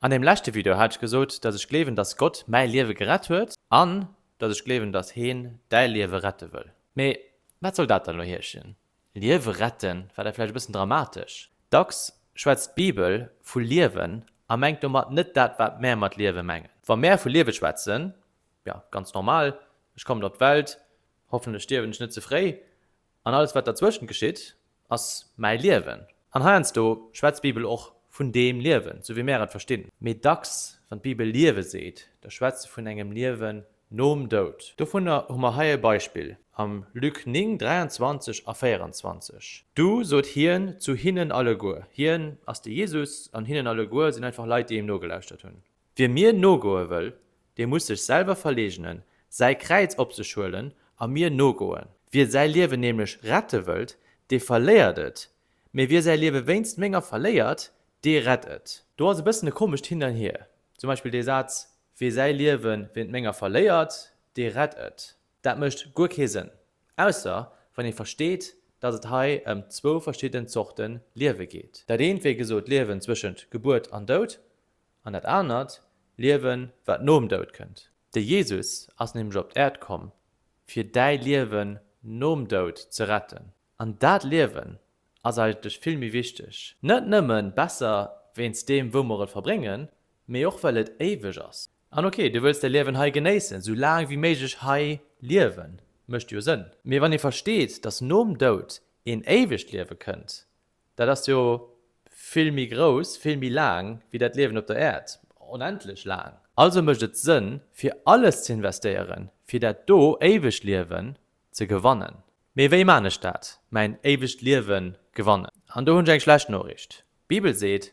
An dem leschte Video hat ech gesot, dass ech gleewen, dass Gott mäi Liewe gerett huet an dass ech gleewen, dass Heen däi Liewe rette wëll. Mee wat soll dat dann elo heeschen? Liewe retten war da vläicht e bëssen dramatesch. Dacks schwätzt d'Bibel vu Liewen a mengt domat net dat, wat mär mat Liewe mengen. Wa mär vu Liewe schwätzen, jo, ganz normal, ech kommen op d'Welt, hoffentlech stierwen ech net ze fréi, An alles wat derzwëschent geschitt, ass mäi Liewen. An heiansdo schwätzt d'Bibel och vun deem Liewen, sou wéi mär et verstinn. Mee dacks, wann d'Bibel Liewe seet, da schwätzt se vun engem Liewen nom Doud. Dovunner hu mer hei e Beispill am Luc 9, 23 a 24, Du sot hien zu hinnen alleguer, hien ass de Jesus, an hinnen alleguer sinn einfach Leit, déi him nogelauschtert hunn. Wie mir nogoe wëll, dee muss sech selwer verleegnen, säi Kräiz op sech huelen a mir nogoen. Wie säi Liewen nämlech rette wëllt, dee verléiert et, mee wie säi Liewe wéinst menger verléiert, dee rett et. Do ass e bëssen e komescht Hin an Hier. Zum Beispill dee Saz, Wie säi Liewe wéint menger verléiert, dee rett et. Dat mécht guer kee Sënn, ausser wann ee versteet, datt et hei ëm zwou verschidden Zorte Liewe geet. Dat eent, wéi gesot, d'Liewen zwëschent Gebuert an Doud, An dat anert Liewen, wat nom Doud kënnt. De Jesus ass nämlech op d'Äerd komm, fir däi Liewen nom Doud ze retten. An dat Liewen ass eigentlech vill méi wichteg. Net nëmme besser wéinst deem, wou mer et verbréngen, mee och well et éiweg ass. An ok, du wëlls däi Liewen hei genéissen, sou laang wéi méiglech hei liewen, mécht jo Sënn. Mee wann ee versteet, dass nom Doud een éiwegt Liewe kënnt, Dat ass jo vill méi grouss, vill méi laang wéi dat Liewen op der Äerd, onendlech laang. Also mécht et Sënn, fir alles ze investéieren, fir dat do éiwegt Liewen ze gewannen. Mee wéi maan ech dat, mäin éiwegt Liewen gewannen? An do hunn ech eng schlecht Noriicht. D'Bibel seet,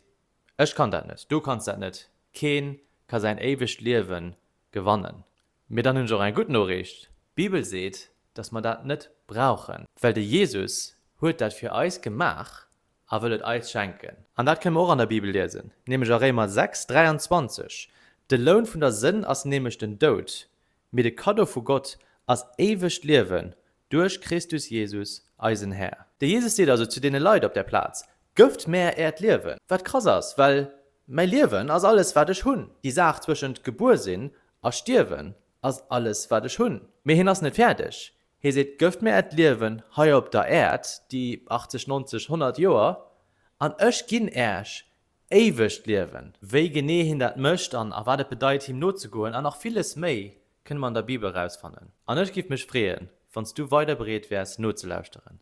Ech kann dat net, du kanns dat net, keen ka säin éiwegt Liewen gewannen. Mee dann hunn ech och eng gutt Noriicht, D'Bibel seet, datt mer dat net brauchen, well de Jesus huet dat fir eis gemaach a wëll et eis schenken. An dat kënne mer och an der Bibel liesen, nämlech a Réimer 6, 23, De Loun vun der Sënn ass nämlech den Doud, mee de Kaddo vu Gott ass éiwegt Liewen duerch Christus Jesus, eisen Här. De Jesus seet also zu deene Leit op där Plaz, Gëft mär äert Liewen. Wat krass ass, well mäi Liewen ass alles, wat ech hunn, déi Saach zwëschent gebuer sinn A stierwen ass alles, wat ech hunn. Mee hien ass net fäerdeg. Hie seet, Gëft mir Äert Liewen hei op der Äerd, déi 80, 90, 100 Joer, an ech ginn Äech éiwegt Liewen. Wéi genee hien dat mécht an a wat et bedeit, him nozegoen, an nach villes méi, kënne mer an der Bibel erausfannen. An ech giff mech freeën, wann s du weider bereet wäers, nozelauschteren.